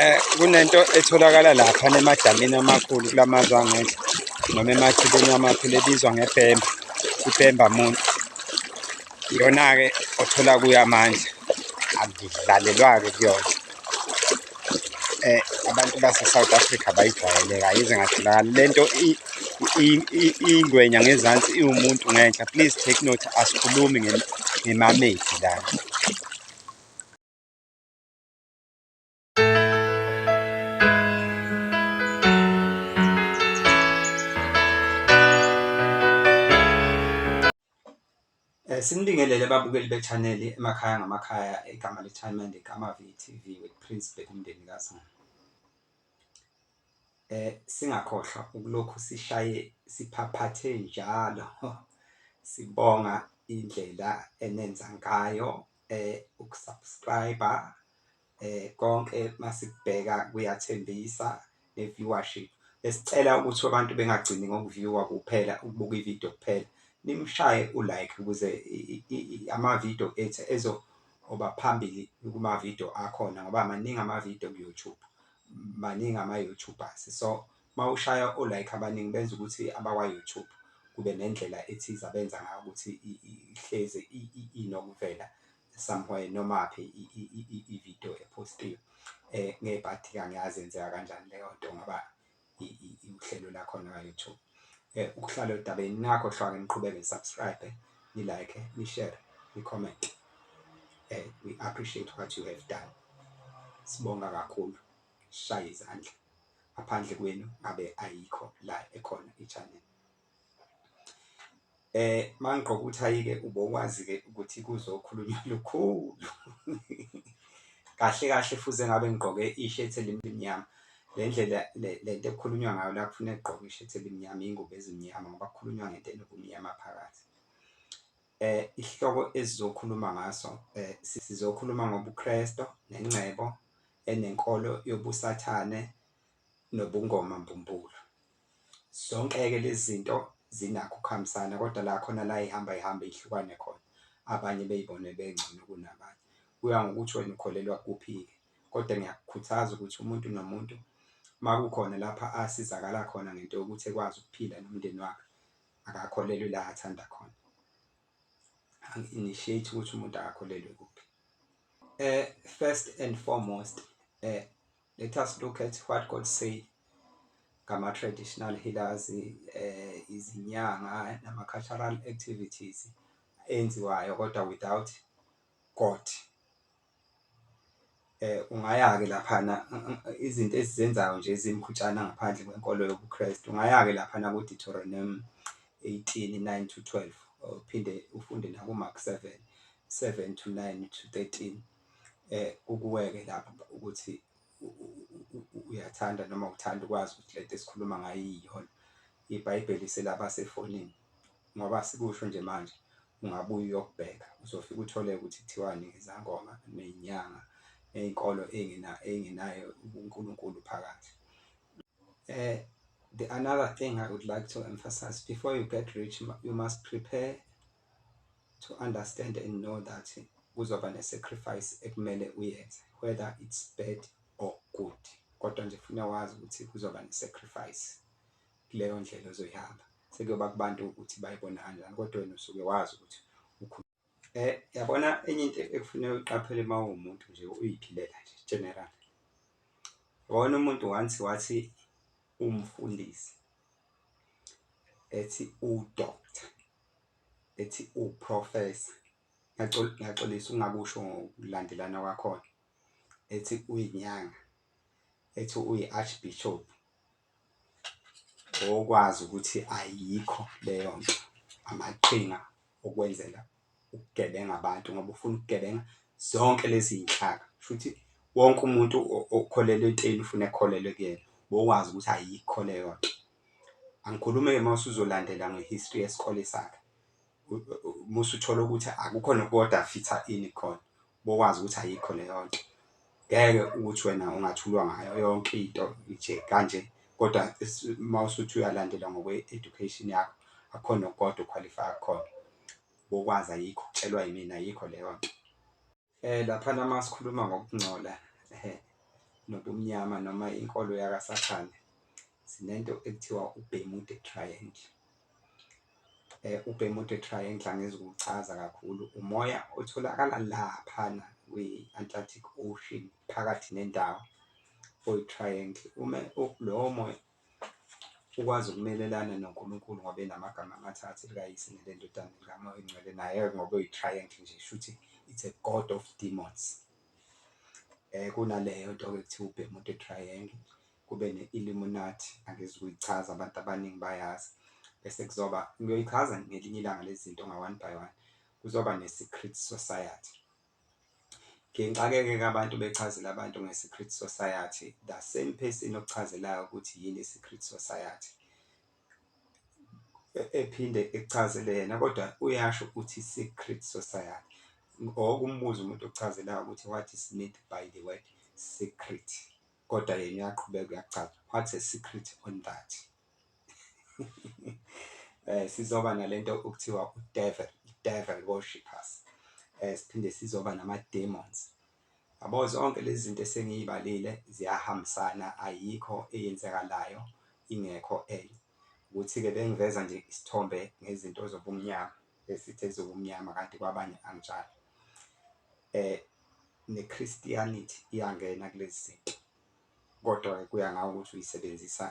eh kunento etholakala lapha nemadamini amakhulu kulamazwe angenhla noma emathibeni amakhulu ebizwa ngepemba ipemba muntu iyona-ke othola kuyo amandla akudlalelwa-ke kuyona eh abantu base-south africa bayijwayele kayi ize ngatholakali le nto ingwenya ngezansi iwumuntu ngenhla please take note asikhulumi ngemamedi lana Eh, Sinibingelele babukeli bechaneli emakhaya ngamakhaya igama lethayimende kamavi TV with Prince Bheka umndeni kaZulu. Eh singakhohlwa ukulokhu sishaye siphaphathe njalo sibonga indlela enenza ngayo eh ukusubscriber eh konke masikubheka kuyathembisa ne viewership besicela ukuthi abantu bengagcini ngokuviewa kuphela ukubuka ivideo kuphela nimshaye ulike ukuze amavideo ethu ezo oba phambili kumavideo akhona ngoba maningi amavideo kuYouTube maningi ama-YouTubers so mawushaya o like abaningi benza ukuthi abakwa YouTube kube nendlela ethize abenza ngayo ukuthi ihlezi inokuvela somewhere noma phi i-video epostiwe eh ngeke bathi kangiyazi enzeka kanjani leyo nto ngoba uhlelo lakhona ka-YouTube eh ukuhlala odabeni nakho hlwake niqhubeke nisubscribe ni like ni share ni comment eh we appreciate what you have done sibonga kakhulu shaya izandla ngaphandle kwenu ngabe ayikho la ekhona i-channel eh mangigqoka uthayike ubokwazi ke ukuthi kuzokhulunywa lukhulu kahle kahle fuze ngabe ngigqoke i-shirt elimnyama le ndlela le nto ekukhulunywa ngayo la kufuneka egqoke i-shirt elimnyama iy'ngubo ezimnyama ngoba kukhulunywa ngento enobumnyama phakathi Eh isihloko esizokhuluma ngaso eh sizokhuluma ngobuKristo nengcebo enenkolo yobusathane nobungoma mbumbulu. Zonke-ke lezi zinto zinakho ukuhambisana kodwa la khona la ihamba ihamba ihlukane khona abanye beyibone bengcono kunabanye. Kuya ngokuthi wena ukholelwa kuphi-ke kodwa ngiyakukhuthaza ukuthi umuntu nomuntu makukhona lapha asizakala khona ngento yokuthi ekwazi ukuphila nomndeni wakhe akakholelwe la athanda khona initiate ukuthi umuntu akakholelwe kuphi eh first and foremost eh let us look at what God say ngama traditional healers eh izinyanga nama cultural activities enziwayo kodwa without God Ungaya-ke laphana izinto esizenzayo nje ezimkhutshana ngaphandle kwenkolo yobuKhrestu, ungaya-ke laphana kuDuteronomi eighteen, nine to twelve or uphinde ufunde nakuMark seven, seven to nine to thirteen kukuwe-ke lapho ukuthi. uyathanda noma uthanda ukwazi ukuthi lento esikhuluma ngayo iyiyona ibhayibheli selaba sefonini ngoba sikusho nje manje ungabuye uyokubheka uzofika uthole ukuthi kuthiwani ngezangoma nezinyanga nezinkolo ey'ngenayo ubunkulunkulu phakathi um the another thing i would like to emphasize before you get rich you must prepare to understand and know that kuzoba ne sacrifice ekumele uyenze whether it's bad or good kodwa nje funa wazi ukuthi kuzoba ne sacrifice kuleyo ndlela ozoyihamba sekuyoba kubantu ukuthi bayibona kanjani kodwa wena usuke wazi ukuthi eh yabona enye into ekufuneka uqaphele uma uwumuntu nje uyiphilela nje general wona umuntu once wathi umfundisi ethi udoctor ethi uProfessor ngiyaxolisa ungakusho ngokulandelana kwakhona ethi uyinyanga ethi uyi-archbishop okwazi ukuthi ayikho leyo nto amaqhinga okwenzela ukugebenga abantu ngoba ufuna ukugebenga zonke lezi zinhlaka futhi wonke umuntu okholelwa entweni ufuna ekholelwe kuyena bokwazi ukuthi ayikho leyo nto angikhulume-ke uma usuzolandela nge-history yesikole sakhe uma usuthola ukuthi akukho nokukoda fitha ini khona bokwazi ukuthi ayikho leyo nto ngeke ukuthi wena ungathulwa ngayo yonke into nje kanje kodwa uma usuthi uyalandela ngokwe-education yakho akukho nokukoda ukhwalifaya kukhona bokwazi ayikho kutshelwa yimina ayikho leyo nto Eh laphana uma sikhuluma ngokungcola eh, nobumnyama noma inkolo yakaSathane sinento ekuthiwa uBermuda Triangle. Eh uBermuda Triangle angizukuchaza kakhulu umoya otholakala laphana kwi-Atlantic Ocean phakathi nendawo oyi-triangle uma lowo moya ukwazi ukumelelana noNkulunkulu ngoba enamagama amathathu elikaYise nelendodana nelikaMoya oyingcwele naye ngoba uyi-triangle nje shuthi it's a god of demons eh kunaleyo nto ke kuthiwa uBermuda Triangle kube ne-Illuminati angezi kuyichaza abantu abaningi bayazi bese kuzoba ngiyoyichaza ngelinye ilanga lezinto nga-one by one kuzoba ne-secret society Ngixakeke ke abantu bechazela abantu nge-secret society, the same person okuchazelayo ukuthi yini i-secret society e-, ephinde ekuchazele yena kodwa uyasho ukuthi i-secret society or ukumbuza umuntu okuchazelayo ukuthi what is meant by the word secret, kodwa yena uyaqhubeka uyakuchaza what a secret on that. eh sizoba nalento okuthiwa udevil devil worshippers eh siphinde sizoba nama demons yabo zonke lezi zinto esengiyibalile ziyahambisana ayikho eyenzakalayo ingekho enye ukuthi-ke bengiveza nje isithombe ngezinto zobumnyama esithi ezobumnyama kanti kwabanye anginjalo um ne-christianity iyangena kulezi zinto Kodwa-ke kuya ngawe ukuthi uyisebenzisa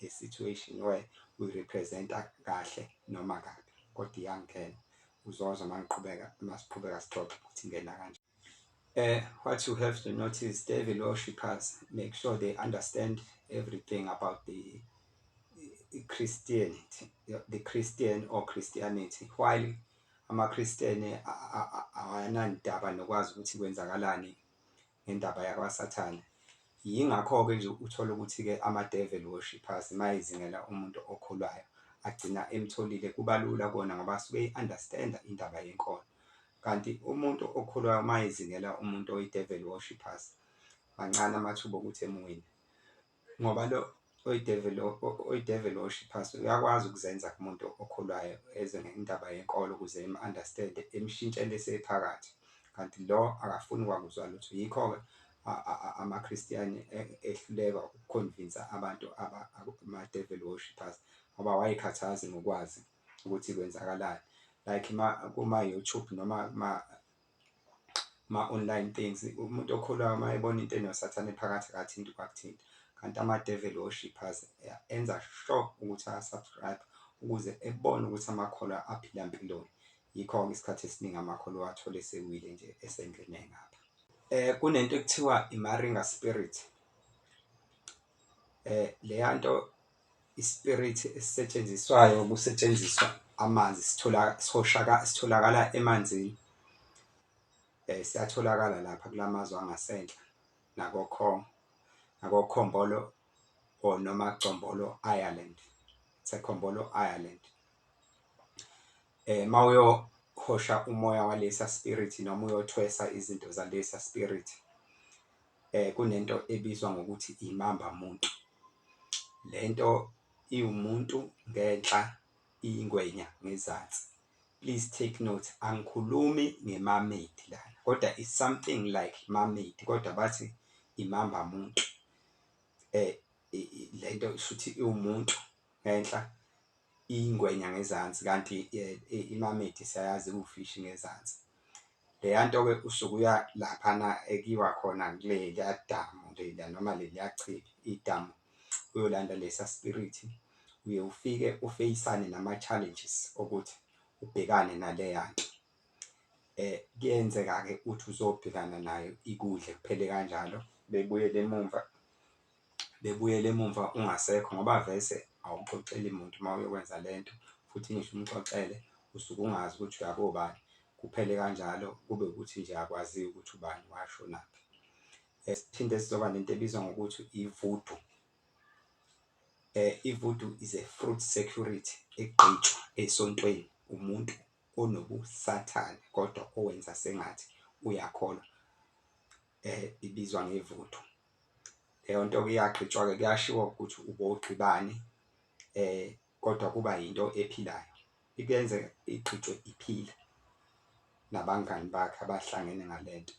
i-situation where uyi-represent-a kahle noma kabi. Kodwa iyangena, uzozwa uma ngiqhubeka, uma siqhubeka sixoxa ukuthi ingena kanjani. Uh, what you have to notice, devil worshippers make sure they understand everything about the Christianity, the Christian or Christianity, while amaKhristiyane awanandaba nokwazi ukuthi kwenzakalani ngendaba yakwaSathane. Yingakho-ke nje uthola ukuthi-ke ama-devil worshippers uma ezingela umuntu okholwayo agcina emtholile, kuba lula kona ngoba asuke eyi-understand-a indaba yenkolo. Kanti umuntu okholwayo uma ezingela umuntu oyi-devil worshippers, mancane amathuba okuthi emuwine. ngoba lo oyideveli oyideveli osho iphasi uyakwazi ukuzenza kumuntu okholwayo eze ngendaba yenkolo ukuze im-understand-e imshintshele esephakathi kanti lo akafuni kwakuzwa lutho yikho-ke amaKhristiyane e, ehluleka ukukhonvinsa abantu ama-devil worshippers ngoba wayekhathazi ngokwazi ukuthi kwenzakalani like kuma-youtube noma ma-online things. Umuntu okholwayo uma ebona into enoSathane ephakathi akathinti ukwakuthinta. Kanti amadeveli worshippers enza sure ukuthi aya-subscribe ukuze ebone ukuthi amakholwa aphila mpiloni. Yikho-ke isikhathi esiningi amakholwa awathole esewile nje esengene ngapha. Eh kunento ekuthiwa i-Maringa spirit. Eh leya nto Isipirithi esisetshenziswayo kusetshenziswa amanzi sitholakala emanzini. Siyatholakala lapha kula mazwe angasenhla nakokhongo nakokhombolo or noma Combolo Ireland, it's a Combolo Ireland. Uma uyohosha umoya walesa spirit noma uyothwesa izinto zalesa spirit. kunento ebizwa ngokuthi imamba muntu. Le nto iwumuntu ngenhla iyingwenya ngezansi. Please take note, angikhulumi nge-mermaid lana kodwa is something like mermaid kodwa bathi imamba muntu. Le nto shuthi iwumuntu ngenhla iyingwenya ngezansi kanti i-mermaid siyayazi iwufishi ngezansi. Leyanto ke usuke uya laphana ekiwa khona kuleliya damu leliya noma leliya chibi idamu uyolanda lesa spirit uye ufike ufeyisane nama challenges okuthi ubhekane naleya nto eh kuyenzeka ke uthi uzobhekana nayo ikudle kuphele kanjalo bebuyele emumva bebuyele emumva ungasekho ngoba vese awuxoxeli muntu uma uyokwenza le nto futhi ngisho umxoxele usuke ungazi ukuthi uyakobani, kuphele kanjalo kube ukuthi nje akwaziwa ukuthi ubani washonaphi. Eh, siphinde sizoba nento ebizwa ngokuthi ivudu eh ivudu is a fruit security egqitshwa esontweni umuntu onobusathane kodwa owenza sengathi uyakholwa eh ibizwa ngevudu leyo nto ke iyagqitshwa-ke kuyashiwo ukuthi ubowugqibani um kodwa kuba yinto ephilayo ikuyenzeka igqitshwe iphila nabangani bakhe abahlangene ngale nto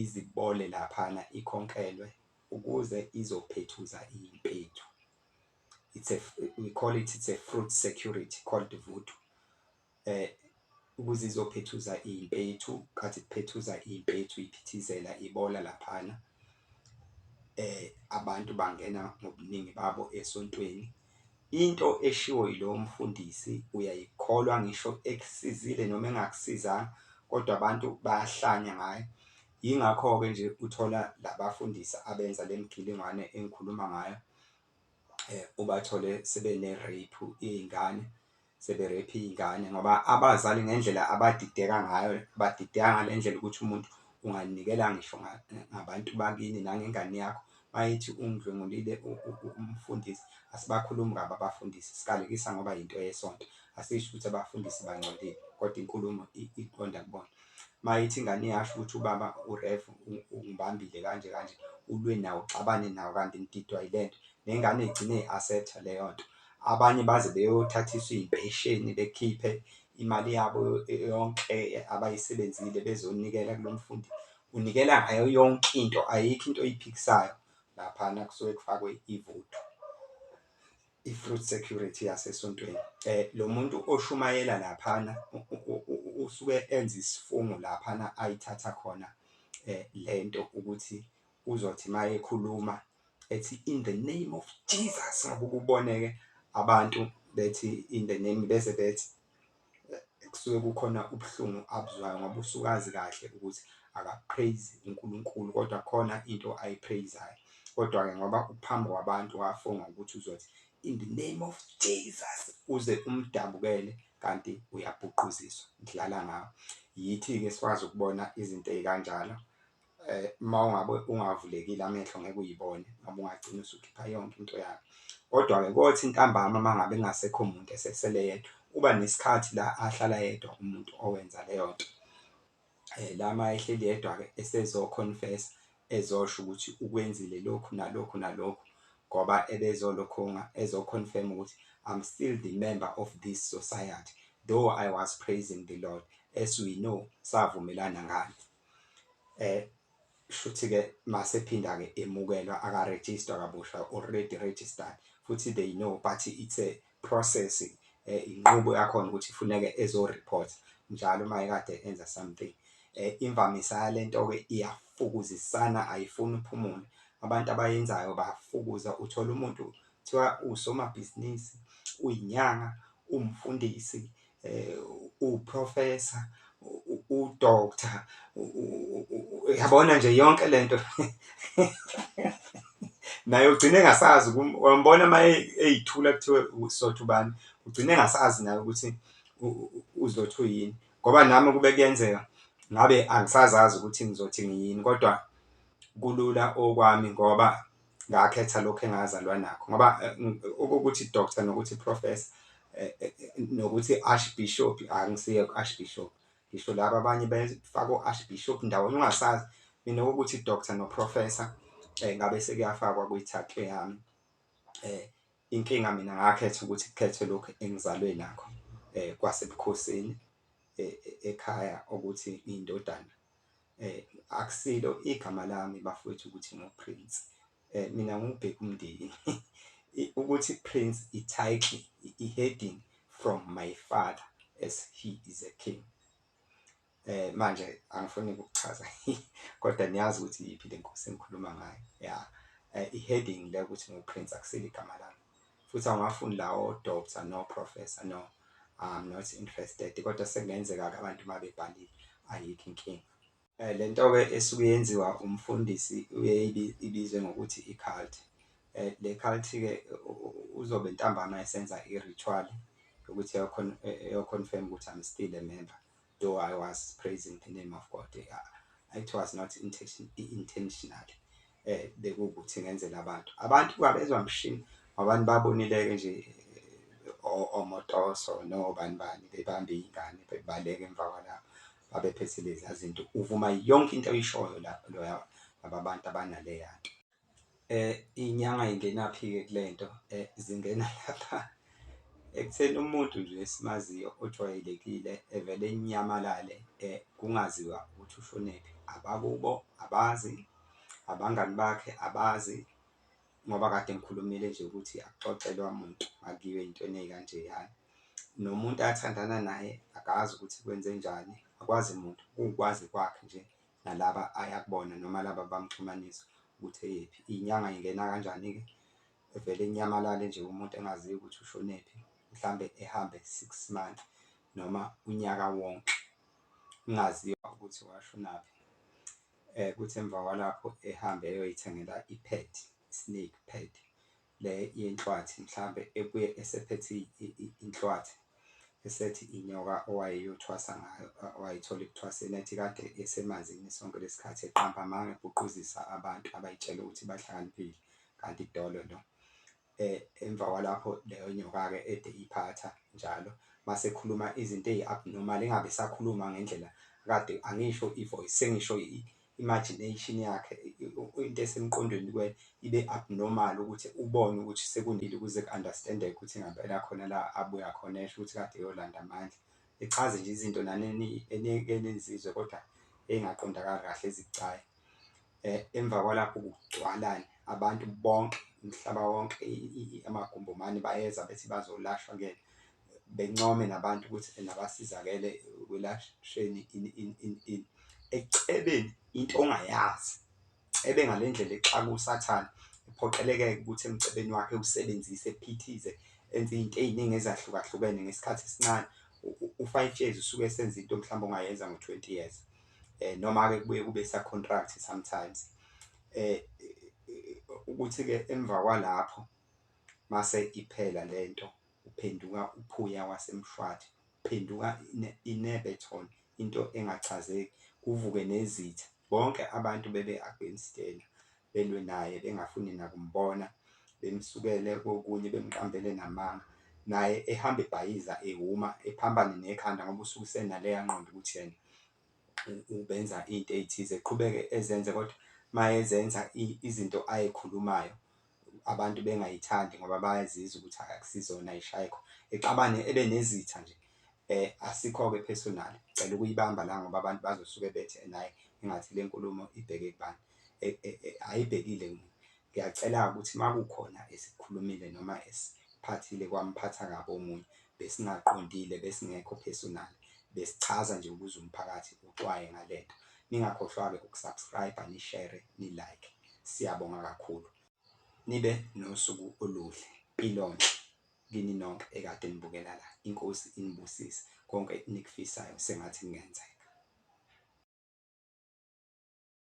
izibole laphana ikhonkelwe ukuze izophethuza impethu. It's a, we call it it's a fruit security called vudu. Eh ukuze izophethuza impethu kathi kuphethuza impethu iphithizela ibola laphana eh abantu bangena ngobuningi babo esontweni into eshiwo yilowo mfundisi uyayikholwa ngisho ekusizile noma engakusizanga kodwa abantu bayahlanya ngayo yingakho-ke nje uthola labafundisi abenza le mgilingwane engikhuluma ngayo um ubathole sebene-rape iy'ngane seberephe iy'ngane ngoba abazali ngendlela abadideka ngayo badideka ngale ndlela ukuthi umuntu unganikela ngisho ngabantu bakini nangengane yakho mayithi ungidlwengulile umfundisi asibakhulumi kabi abafundisi sikalekisa ngoba yinto yesonto asisho ukuthi abafundisi bangcolile kodwa inkulumo iqonda kubona mayithi ingane yasho ukuthi ubaba uref ungibambile kanje kanje ulwe nawo uxabane nawo kanti ngididwa yile nto nengane igcine i-asetha leyo nto Abanye baze beyothathiswa iy'mpesheni bekhiphe imali yabo yonke abayisebenzile bezonikela kulo mfundi. Unikela ngayo yonke into, ayikho into oyiphikisayo laphana kusuke kufakwe ivuthu, i-fruit security yasesontweni. Lo muntu oshumayela laphana usuke enza isifungo laphana ayithatha khona le nto ukuthi uzothi uma ekhuluma ethi in the name of Jesus ngoba ukuboneke abantu bethi in the name bese bethi kusuke kukhona ubuhlungu abuzwayo ngoba usukazi kahle ukuthi akapraise uNkulunkulu kodwa khona into ayipraisayo kodwa-ke ngoba uphambi kwabantu wafunga ukuthi uzothi in the name of Jesus uze umdabukele kanti uyabhuquziswa ngidlala ngawo yithi-ke sikwazi ukubona izinto ey'kanjalo eh uma ungabe ungavulekile amehlo ngeke uyibone ngoba ungagcina usukhipha yonke into yakho kodwa-ke kothi ntambama uma ngabe kungasekho muntu esesele yedwa uba nesikhathi la ahlala yedwa umuntu owenza leyo nto um la ma ehleli yedwa-ke esezokhonfesa ezosho ukuthi ukwenzile lokhu nalokhu nalokhu ngoba ebezolokhunga ezokhonfirm ukuthi i'm still the member of this society though i was praising the lord as we know savumelana ngani eh shuthi ke masephinda ke emukelwa aka register kabusha already registered futhi they know but it's a process eh inqubo yakhona ukuthi ifuneke ezo report njalo uma ekade enza something eh imvamisa yalento ke iyafukuzisana ayifuni uphumule abantu abayenzayo bafukuza uthola umuntu kuthiwa usomabhizinisi uyinyanga umfundisi uprofessor udoctor yabona nje yonke lento naye ugcine engasazi wambona uma eyithula kuthiwe usotha ubani ugcine engasazi naye ukuthi uzothu yini ngoba nami kube kuyenzeka ngabe angisazazi ukuthi ngizothi ngiyini kodwa kulula okwami ngoba ngakhetha lokho engazalwa nakho ngoba eh, ukuthi doctor nokuthi professor eh, eh, nokuthi archbishop angisiye ku-archbishop ngisho laba abanye befaka u-archbishop ndawonye ungasazi mina ukuthi doctor noprofessor um ngabe sekuyafakwa kwi-tattoo yami um inkinga mina ngakhetha ukuthi kukhethwe lokhu engizalwe nakho um kwasebukhosini e-, e-, ekhaya ukuthi iy'ndodana Akusilo igama lami bafwethu ukuthi nguPrince. Mina ngubheka umndeni. Ukuthi Prince i-title, i-heading from my father as he is a king. Eh manje angifuni ukuchaza kodwa niyazi ukuthi yiphi le nkosi engikhuluma ngayo. Yeah. Eh, i-heading le ukuthi nguPrince akusilo igama lami. Futhi awungafuni lawo doctor no professor no I'm not interested kodwa sekungenzeka ke abantu uma bebhalile ayikho inkinga. Eh lentoke esuke yenziwa umfundisi uyeyibi ibizwe ngokuthi i-cult. Eh le cult ke uzobe ntambama esenza i-ritual yokuthi eyokhon eyoconfirm ukuthi I'm still a member. Though I was praising the name of God, uh, it was not intention, intentional. Eh, bekuwukuthi ngenzela abantu. Abantu babezwa mshini, abantu babonileke nje eh, omotoso no bani bani bebambe ingane bebaleke emva kwalapho babephethe lezi zinto uvuma yonke into oyishoyo lapho loya laba bantu abanaleya nto Eh inyanga ingenaphi ke kulento eh zingena lapha ekutheni umuntu nje esimaziyo ojwayelekile evele enyamalale eh kungaziwa ukuthi ushonephi abakubo abazi abangani bakhe abazi ngoba kade ngikhulumile nje ukuthi akuxoxelwa muntu akuyiwe intweni eyikanje yani nomuntu athandana naye akazi ukuthi kwenze njani akwazi muntu ukwazi kwakhe nje nalaba aya kubona noma laba bamxhumanisa ukuthi eyephi. Iy'nyanga ingena kanjani-ke evele inyamalale nje umuntu engaziyo ukuthi ushonephi, mhlawumbe ehambe six months noma unyaka wonke ungaziwa ukuthi washonaphi. Um kuthi emva kwalapho ehambe eyoyithengela i-pad, i-snake pad, le yenhlwathi mhlampe ebuye esephethe inhlwathi esethi inyoka owayeyothwasa ngayo wayithola ekuthwaseni ethi kade esemanzini sonke lesikhathi eqamba amanga ebuquzisa abantu abayitshela ukuthi bahlakaniphile kanti idolo lo eh emva kwalapho leyo nyoka ke ede iphatha njalo mase khuluma izinto eziabnormal engabe sakhuluma ngendlela kade angisho ivoice sengisho imagination yakhe into esemqondweni kwe ibe abnormal ukuthi ubone ukuthi sekunile ukuze ku understandeke ukuthi ngempela khona la abuya khona esho ukuthi kade eyolanda amandla echaze nje izinto nanini enizizwe kodwa engaqondakali kahle ezicayi eh emva kwalapho kugcwalana abantu bonke umhlaba wonke amagumbomane bayeza bethi bazolashwa kuyena bencome nabantu ukuthi nabasizakele ekwelashweni ini ini ini ini. Ekucebeni into ongayazi, ebe ngale ndlela exaka uSathane, ephoqeleke-ke ukuthi emcebeni wakhe ewusebenzise, ephithize, enze izinto eziningi ezahlukahlukene ngesikhathi esincane. U-five years usuke esenza into mhlawumbe ongayenza ngo-twenty years. Noma-ke kubuye kube esa-contract sometimes. Ukuthi-ke emva kwalapho mase iphela le nto. Uphenduka uphuya waseMshwathi, uphenduka inebe ton into engachazeki, kuvuke nezitha, bonke abantu bebe against yena, belwe naye bengafuni nakumbona, bemsukele kokunye bemqambele namanga, naye ehamba ebhayiza ehhuma ephambane nekhanda ngoba usuke usenaleya ngqondo ukuthi yena benza into ey'thize qhubeke ezenze kodwa mayezenza izinto ay'khulumayo abantu bengay'thandi ngoba bayazizwa ukuthi akusizona ay'shaye khona exabane ebe nezitha nje asikho-ke personal cela ukuyibamba la ngoba abantu bazosuke bethe naye engathi le nkulumo ibheke kubani ayibhekile Ngiyacela ukuthi makukhona esikhulumile noma esiphathile kwamphatha kabi omunye besingaqondile besingekho personal besichaza nje ukuze umphakathi uxwaye ngalento. Ningakhohlwake uku subscriber ni share ni like siyabonga kakhulu. Nibe nosuku oluhle. Mpilonhle kini nonke ekade nibukela la. Inkosi inibusise. Konke enikufisayo sengathi kungenzeka.